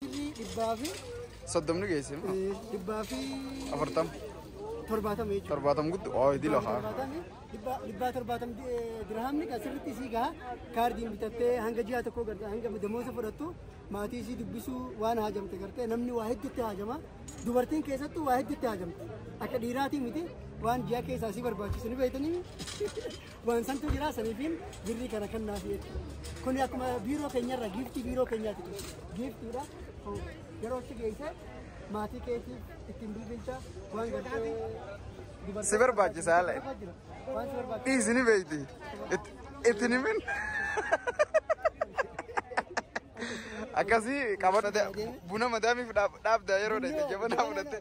dhibbaa fi Soddomni geesse immoo. dhibbaa fi Afurtam. torbaatama jechuudha. Torbaatam guddu. Oo hidii lafa. Torbaatamni dhibbaa- dhibbaa torbaatam di- eh, dirhaamni kan sirriitti isii gaha kaardiin bitattee hanga ji'a tokkoo garte hanga damoosa fudhattu maatii isii dubbisuu waan haajamte garte namni waa hedduutti haajama dubartiin keessattuu waa hedduutti haajamte akka dhiiraatii miti waan ji'a keessaa isii barbaachisu ni beektanii Waan santu jira saniifiin birrii kana kan naaf jedhe. Kuni akkuma biiroo keenyarra giiftii biiroo keenyaati kun. Giiftiidha. Kun Yeroo itti geesse maatii keetii ittiin bilbilcha waan gartee dubartoota- Si barbaachisa haala. Waan si barbaachisa. Dhiisi ni beekti. Itti- Itti ni min. Akkasii qabadhu buna madaamiif dhaabdaa yeroo dha jajjabanaa fudhattee.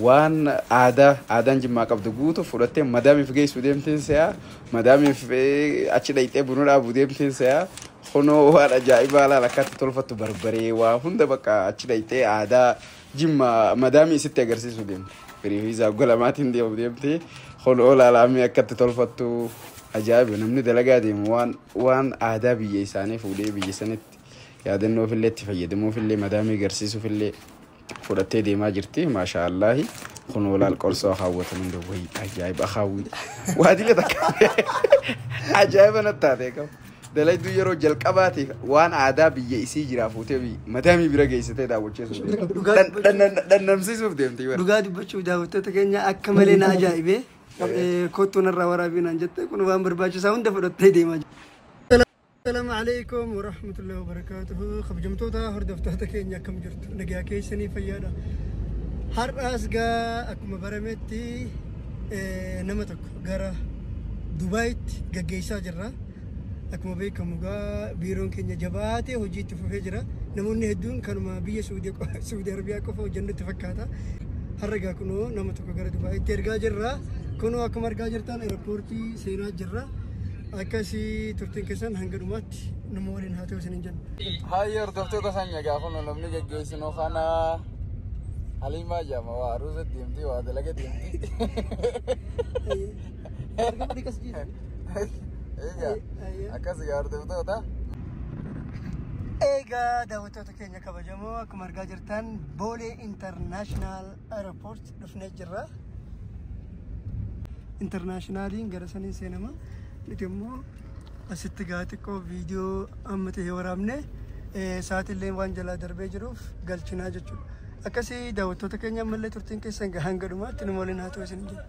Waan aadaa aadaan jimmaa qabdu guutu fudhattee madaamiif geessu deemteen se'aa madaamiif achi dhayxee buna dhaabu deemteen se'aa kunoo waan ajaa'ibaa laal akkaatti tolfattu barbaree waa hunda bakka achi dhayxee aadaa jimma madaamii isitti agarsiisu deemte firii fi isaa galamaatiin deemu deemte kunoo laalaamii akkatti tolfattu ajaa'iba namni dalagaa deemu waan waan aadaa biyya isaanii fuudhee biyya sanitti yaadannoof illee itti fayyadamuuf illee madaamii agarsiisuuf illee fudhattee deemaa jirti maashaa allaahi kunoo laal qorsoo akaawwatan hunda wayi ajaa'iba akaawwi waadila takka ajaa'iba natti taate qabu dalayduu yeroo jalqabaatiif waan aadaa biyya isii jiraa fuutee bi- madaamii bira geessitee daawwachiisuuf deemti. Dhugaa- Dhan- dhan- dhannamsiisuuf deemti bara. Dhugaa dubbachuuf daawwattoota keenya akka malee na ajaa'ibe. Kottuun irraa waraabinaan jette kun waan barbaachisaa hunda fudhattee deemaa jirti. Assalamu alaikum wa rahmatullahi wa barakatuhu. Kabajamtoota hordoftoota keenya akkam jirtu? Nagaa keessanii fayyaadha. Har'aas gaa akkuma barametti eh, nama tokko gara Dubaayitti gaggeessaa jirra. Akkuma beekamu gaa biiroon keenya jabaatee hojii itti fufee jira. Namoonni hedduun kanuma biyya Suudii qo- Suudii Arabiyaa qofa hojjennutti fakkaata. Har'a gaa kunoo nama tokko gara Dubaayitti ergaa jirra. Kunoo akkuma argaa jirtan eerpoortii seenaa jirra. akkasii turtiin keessan hanga dhumaatti nama waliin haa ta'u isiniin jenna. Haayyi hordoftoota sanya gaafa nu namni geggeessinu kana haliimaa jaama waa aruusa deemti waa dalaga deemti. Akkas yaa hordoftoota. Egaa daawwattoota keenya kabajamoo akkuma argaa jirtan boolee intarnaashinaal Aeroport dhufnee jirra. Intarnaashinaaliin gara saniin seenama. Nuti immoo asitti gaa xiqqoo viidiyoo amma ta'e waraabne sa'aatillee waan jalaa darbee jiruuf galchinaa jechuudha. Akkasii daawwattoota keenya ammallee turtiin keessan gaa hanga dhumaatti nu waliin haa ta'u isin jedha.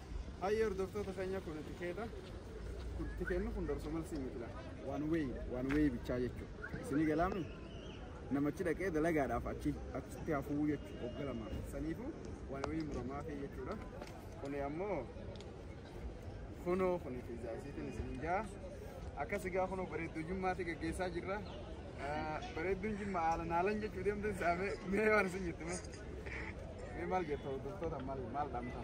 Hayyee hordoftoota keenya kun tikeeta. Kun tikeenni kun dorso malsii miti laa. Waan weeyi waan weeyi bichaa jechuudha. Isinii galaami namachi dhaqee dalagaadhaaf achi achitti hafuu jechuudha wagga lama. Saniifuu waan weeyi muramaa fi jechuudha. Kuni ammoo kunoo kun fiizaa isiitiin isin jaa. Akkas egaa kunoo bareedduu jimmaatti gaggeessaa jirra. Ah, Bareedduun jimma haala naalan jechuu deemte saamee mee waan isin jettu mee. Mee maal jettu hordoftoota maal maal dhaamtaa?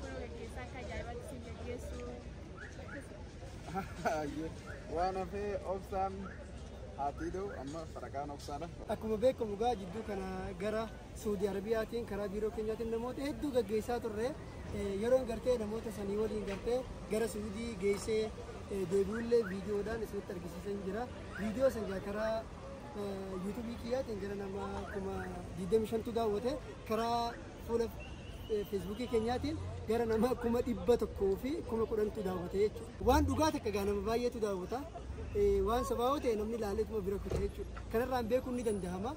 Kun gaggeessaa akka ajaa'ibaatti isin gaggeessu. Waan hafee obsaan haatii da'u amma faraqaan obsaadha. Akkuma beekamu egaa jidduu kana gara Suudi Arabiyaatiin karaa biiroo keenyaatiin namoota hedduu gaggeessaa turre Eh, yeroon gartee namoota sanii waliin gartee gara Suudii geessee eh, deebi'ullee viidiyoodhaan isinitti argisiisan jira. Viidiyoo sana egaa karaa eh, yuutuubii kiyyaatiin gara nama kuma 25tu daawwate karaa fuula feesbuukii keenyaatiin gara nama kuma dhibba tokkoo fi kuma kudhantu daawwata jechuudha. Waan dhugaa takka gaa nama baay'eetu daawwata. Waan sabaa'oo ta'e namni ilaaleetuma bira kuta jechuudha. Kanarraan beekuun ni danda'ama.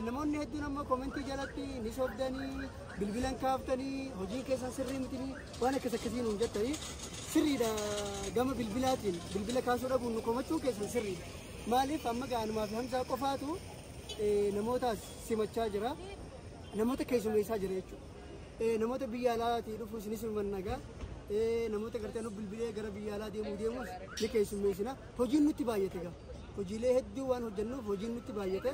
Namoonni hedduun amma koomentii jalatti ni sobdanii, bilbilan kaaftanii, hojiin keessan sirrii mitinii waan akkas akkasiin hin jettanii sirriidha gama bilbilaatiin bilbila kaasuu dhabuun nu komachuu keessan sirriidha. Maaliif amma ga'anumaa fi hamsaa qofaatu namootaas simachaa jira. namoota keessummeessaa jira jechuudha. Eh, Namoota biyya alaatii dhufu isinis mannagaa namoota gartee nu bilbilee gara biyya alaa deemuu deemus ni keessummeessina. Hojiin nutti baay'ate gaa. Hojiilee hedduu waan hojjennuuf hojiin nutti baay'ate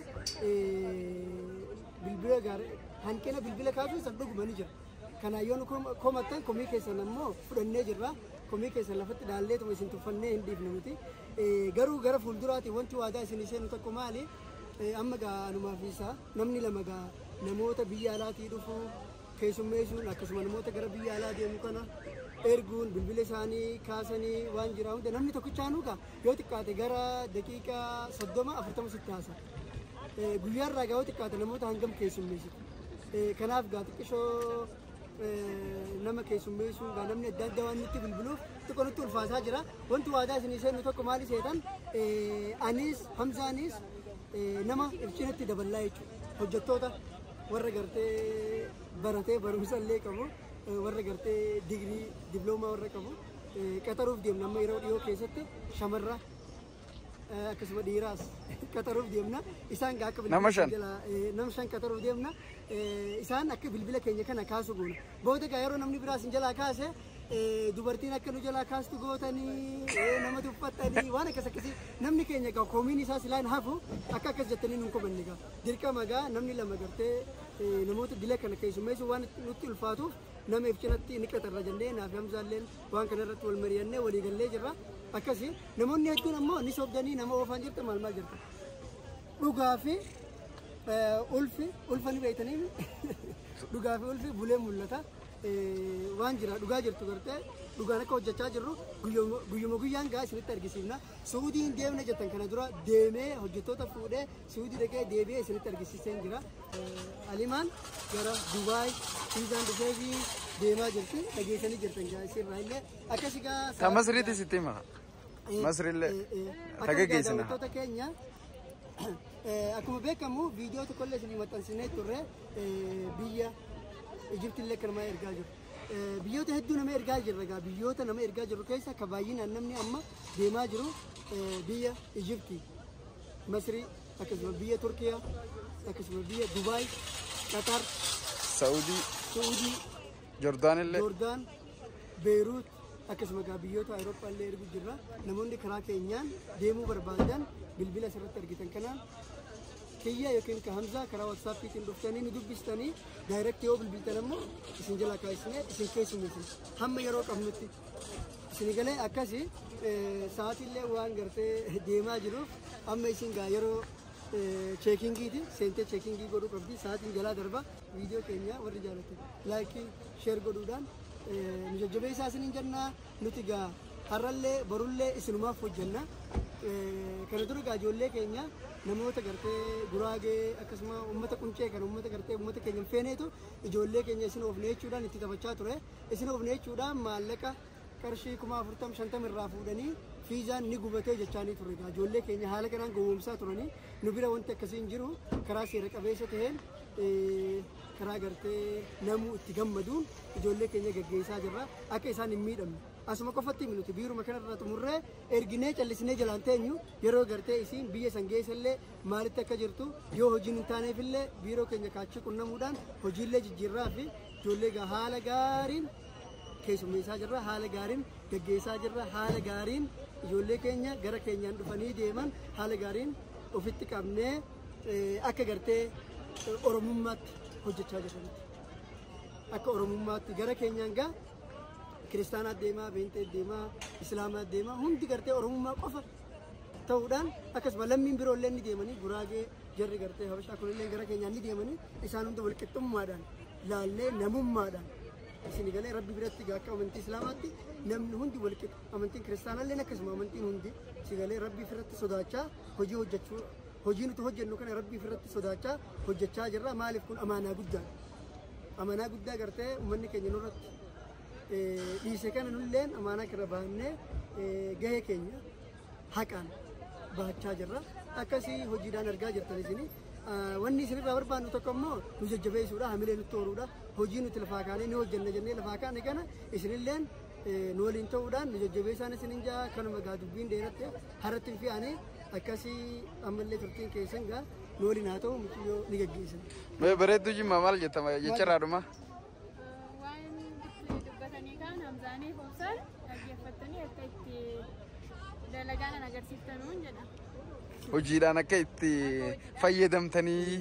eh, bilbila gaarii hanqina bilbila kaasuu san dhuguma ni jira. Kana yoo nu kom- komattan komii keessan ammoo fudhannee jirra. Komii keessan lafatti dhaallee tuma isin tuffannee hin dhiifne nuti. Eh, Garuu gara fuulduraati wanti waadaa isin seenu tokko maali? Eh, Amma gaa anumaaf isaa. Namni lama egaa namoota biyya alaatii dhufu keessummeessuun akkasuma namoota gara biyya alaa deemu kana erguun bilbila isaanii kaasanii waan jiraa hunda namni tokkichaanuu egaa yoo xiqqaate gara daqiiqaa soddoma afurtama sitti haasa. Guyyaa irraa egaa yoo xiqqaate namoota hangam keessummeessitu. Kanaaf egaa xiqqishoo nama keessummeessuu egaa namni adda addaa waan nutti bilbiluuf xiqqoo nutti ulfaasaa jira. Wanti waadaa isinii seennu tokko maali seetan? Anis Hamzaanis nama ifcinatti daballaa jechuudha. Hojjettoota warra gartee baratee barumsa illee qabu warra gartee digirii diploomaa warra qabu qaxaruuf deemna amma yeroo dhiyoo keessatti shamarra akkasuma dhiiraas qaxaruuf deemna isaan akka bilbila shan nam shan qaxaruuf deemna isaan akka bilbila keenya kana kaasu goona booda gaa yeroo namni biraas hin jalaa kaase eh, dubartiin akka nu jalaa kaastu gootanii eh, nama tuffattanii waan akkas akkasii namni keenya egaa koomiin isaa silaan hafu akka akkas jettanii nun komanne egaa dirqama egaa namni lama gartee eh, namoota dila kana keessummeessu waan nutti ulfaatuuf nama if cinatti ni qaxarra jennee naaf hamzaalleen waan kana irratti wal mari'annee walii gallee jirra akkasii namoonni hedduun ammoo ni sobdanii nama oofaan jirta maal maal jirta dhugaa fi eh, ulfi ulfa ni beektanii dhugaa fi ulfi bulee mul'ata. waan jira dhugaa jirtu gartee dhugaan akka hojjechaa jirru guyyuma guyyaan gaa isinitti argisiifna suudii hin deemne jettan kana dura deemee hojjettoota fuudhee suudii dhaqee deebi'ee isinitti argisiiseen jira alimaan gara dubaay fiizaan dhufee fi deemaa jirti dhageessanii jirtan gaa isin irraa illee akkasii gaa Tamasriitis itti hima. Masrillee ta geggeessina. Daawwattoota keenya eh, akkuma beekamu viidiyoo tokkollee isinii maxxansinee turre eh, biyya Ijiptillee kan nama ergaa jiru. Eh, Biyyoota hedduu nama ergaa jirra egaa biyyoota nama ergaa jiru keessa akka baay'inaan namni amma deemaa jiru eh, biyya Ijipti, Masrii, akkasuma biyya Turkiyaa, akkasuma biyya Dubaay, Qatar, Saudii, Suudii, Jordaanillee. Jordaan, Beeruut, akkasuma egaa biyyoota Awurooppaa illee ergu jirra. Namoonni karaa keenyaan deemuu barbaadan bilbila asirratti argitan kanaan kiyya yookiin ka Hamzaa karaa WhatsAppiitiin dhuftanii nu dubbistanii daayirektii yoo bilbiltan ammoo isin jalaa kaasisnee isin keessummeessina. Hamma yeroo qabnutti isin galee akkasi eh, sa'aatiillee waan gartee deemaa jiruuf amma isin gaa yeroo eh, cheekingiiti seentee cheekingii godhuu qabdi sa'aatiin jalaa darba viidiyoo keenya warri jaallattan laayikii sheer godhuudhaan nu jajjabeessaa isiniin jenna nuti gaa har'allee borullee isinumaaf hojjenna kana dura gaa ijoollee keenya namoota gartee guraagee akkasuma uummata quncee kan uummata gartee uummata keenya hin feeneetu ijoollee keenya isin oofne jechuudhaan itti taphachaa ture isin oofne jechuudhaan maallaqa qarshii kuma afurtam shantam irraa fuudhanii fiizaan ni gubatee jechaanii ture gaa ijoollee keenya haala kanaan gowwoomsaa turanii nu bira wanti akkasii hin jiru karaa seera qabeessa ta'een karaa gartee namuu itti gammaduun ijoollee keenya gaggeessaa jirra akka isaan hin miidhamne asuma qofatti nuti biiruma kanarraa xumurree erginee callisnee jalaan teenyu yeroo gartee isiin biyya san geessallee maalitti akka jirtu yoo hojiin hin taaneefillee biiroo keenya kaachii qunnamuudhaan hojiillee jijjiirraa fi ijoollee gaa haala gaariin keessummeessaa jirra haala gaariin gaggeessaa jirra haala gaariin ijoollee keenya gara keenyaan dhufanii deeman haala gaariin ofitti qabnee akka gartee oromummaatti hojjechaa jiranitti akka oromummaatti gara keenyaan gaa kiristaanaa deemaa beentee deemaa islaamaa deemaa hundi gartee oromummaa qofa ta'uudhaan akkasuma lammiin biroo illee ni deemanii guraagee jarri gartee habashaa kun illee gara keenyaan ni deemanii isaan hunda walqixxummaadhaan laallee namummaadhaan isin galee rabbi biratti gaa akka amantii islaamaatti namni hundi walqixa amantiin kiristaanaa illee akkasuma amantiin hundi si galee rabbi irratti sodaachaa hojii hojjechuu hojii nuti hojjennu kana rabbii ofirratti sodaachaa hojjechaa jirra maaliif kun amaanaa guddaa amaanaa guddaa gartee uummanni keenya nurratti dhiise kana nulleen amaanaa kana baannee gahee keenya haqaan bahachaa jirra akkasii hojiidhaan argaa jirtan isinii wanni isinirraa barbaannu tokko immoo nu jajjabeessuudha hamilee nutti horuudha hojii nuti lafaa kaanee ni hojjenna jennee lafaa kaane kana isinilleen nu waliin ta'uudhaan nu jajjabeessaan isin hin ja'a kanuma gaa dubbiin dheeratte haratti hin fi'ane akkasii ammallee turtiin keessan gaa nu waliin haa ta'u mucayyoo ni gaggeessan. Mee bareedduu jimmaa maal jettama jecharaa dhuma. Waan dubbatanii kaan hamzaanii hobsaan dhaggeeffattanii akka itti dalagaan agarsiiftanuun jedha. Hojiidhaan akka itti fayyadamtanii.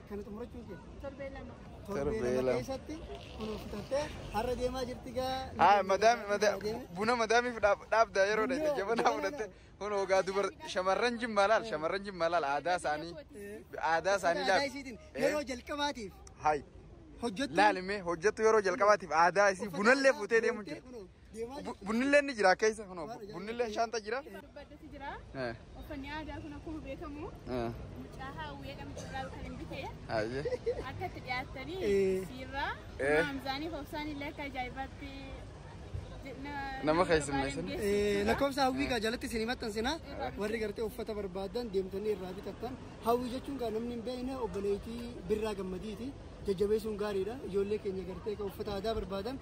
Kana xumurachuun kee. Torbee lama. Torbee lama keessatti kunuunsitattee har'a deemaa jirti gaa. Haa madaami madaami buna madaamiif dhaabdaa yeroo dha jabanaa fudhatte kun ogaa dubar shamarran jimmaa laal shamarran jimmaa laal aadaa isaanii aadaa isaanii laal. Yeroo jalqabaatiif. Hayi. Hojjettu. Laalime hojjettu yeroo jalqabaatiif aadaa isii bunallee fuutee deemu jira. Bunnilleen ni jira keessa kunoo bunnilleen shaanta jira. Baddeetti jira. Eh, Uffanni aadaa kun akkuma beekamu eh, mucaa hawwee dhamtuudhaan kan hin bitee ayyee. akka itti dhiyaattanii siirraa Eh. maamsaanii hobsaan illee akka ajaa'ibaatti Nama keessummeessan. lakkoofsa hawwii kaa jalatti isin himattansiina warri gartee uffata barbaadan deemtanii irraa bitattan hawwii jechuun kaa namni hin beekne obboleettii birraa gammadiiti jajjabeessuun gaariidha ijoollee keenya gartee ka uffata aadaa barbaadan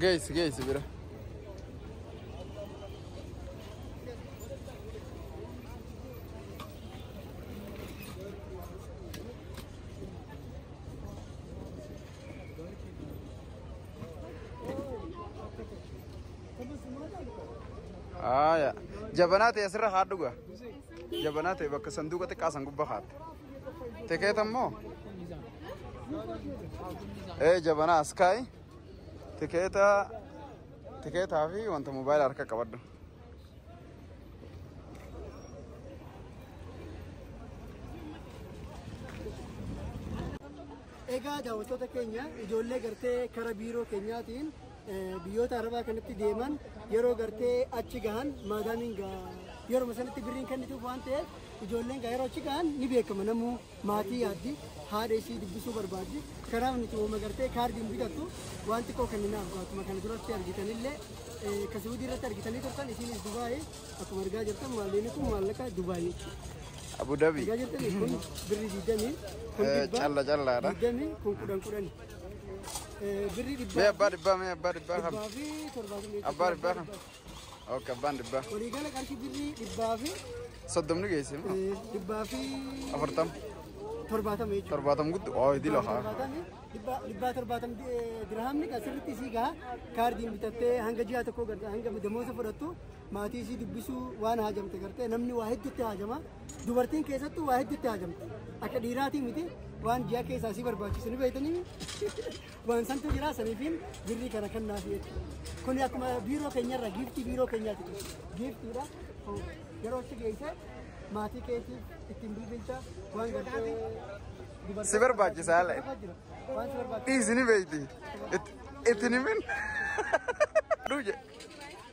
Geessi geessi bira. Haaya. Jabanaa ta'e asirra haa dhuga. Jabanaa ta'e bakka sanduuqa xiqqaa san gubbaa kaa'atte. Tikeeta immoo? Ee jabanaa as kaa'i. Tikeeta tikeetaa fi wanta moobaayila harka qabadhu. Egaa daawwattoota keenya ijoollee gartee kara biiroo keenyaatiin eh, biyyoota arabaa kanatti deeman yeroo gartee achi gahan maadaamiin gaa yeroo sanatti birriin kennituuf waan ta'eef ijoolleen gaa yeroo achi gahan ni beekama namuu maatii yaaddi, haadha isii dubbisuu barbaaddi. Kanaaf nuti uuma gartee kaardiin bitattu waan xiqqoo kenninaaf akkuma kana duratti argitanillee eh, ka Suudii irratti argitanii turtan isiinis Dubaayii akkuma argaa jirtan maalleenii kun maallaqa Dubaayii jechuudha. Abu Dhabi. Argaa jirtanii kun birri digdamii kun Eh, dhibba calla callaadha. digdamii kun kudhan kudhani. Eh, Birri Mee dhibbaa abbaa dhibbaa mee abbaa dhibbaa kam. dhibbaa fi torbaatamii Abbaa dhibbaa kam. Ok abbaan dhibbaa. Waliigala qarshii birrii dhibbaa fi Soddomni geesse moo? eh, dhibbaa fi Afurtam. torbaatama jechuudha. Torbaatam guddu. Oo hidii lafa. Torbaatami, dhibbaa- dhibbaa torbaatami eh, dirhamni kan sirriitti isii gaha kaardiin bitattee hanga ji'a tokko garte hanga damoosa fudhattu maatii isii dubbisuu waan haajamte garte namni waa hedduutti haajama dubartiin keessattuu waa hedduutti haajamte akka dhiiraatii miti waan ji'a keessaa isii barbaachisu ni beektanii Waan santu jira saniifiin birrii kana kan naaf jedhe. Kuni akkuma biiroo keenyarra giiftii biiroo keenyaati kun. Giiftiidha. Kun Yeroo itti geesse maatii keetii ittiin bilbilcha waan gartee dubartoota- Si barbaachisa haala. Waan si barbaachisa. Dhiisi ni beekti. Itti- Itti ni min. Dhuu jedhe.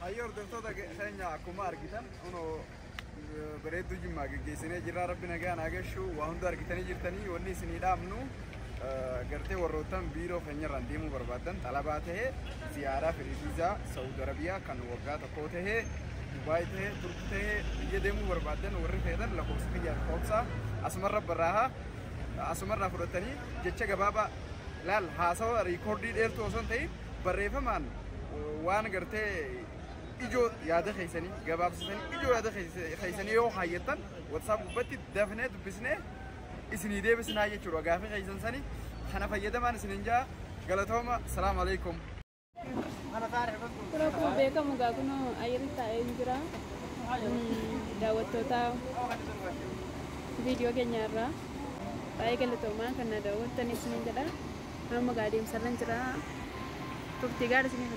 Hayyoo hordoftoota keenya akkuma argitan kunoo bareedduu jimmaa geggeessinee jirra rabbi nagaan haa gashu waa hunda argitanii jirtanii wanni isinii dhaabnu gartee warroottan biiroo keenyarraan deemuu barbaadan xalabaa ta'e ziyaaraa firiiziizaa saawud arabiyaa kan waggaa tokkoo ta'e dubaay ta'e turki ta'e biyya deemuu barbaadan warri feetan lakkoofsa kiyyaa lakkoofsa asumarra barraaha asumarraa fudhatanii jecha gabaabaa laal haasawa riikoordii dheertuu osoo hin ta'in barreeffamaan waan gartee ijoo yaada keessanii gabaabsisanii ijoo yaada keessanii yoo kaayyattan WhatsApp gubbatti dafnee dubbisnee isinii deebisnaa jechuudha gaafii keessan sanii kana fayyadamaan isinin jaa galatooma salaamu alaikum. Suuraa kun beekamu egaa kun ayyirri taa'ee hin jira. Daawwattoota viidiyoo keenya irraa. Baay'ee galatoomaa kan na daawwattan isiniin jedha. Amma gaa deemsarran jira. Turtii gaarii isiniif.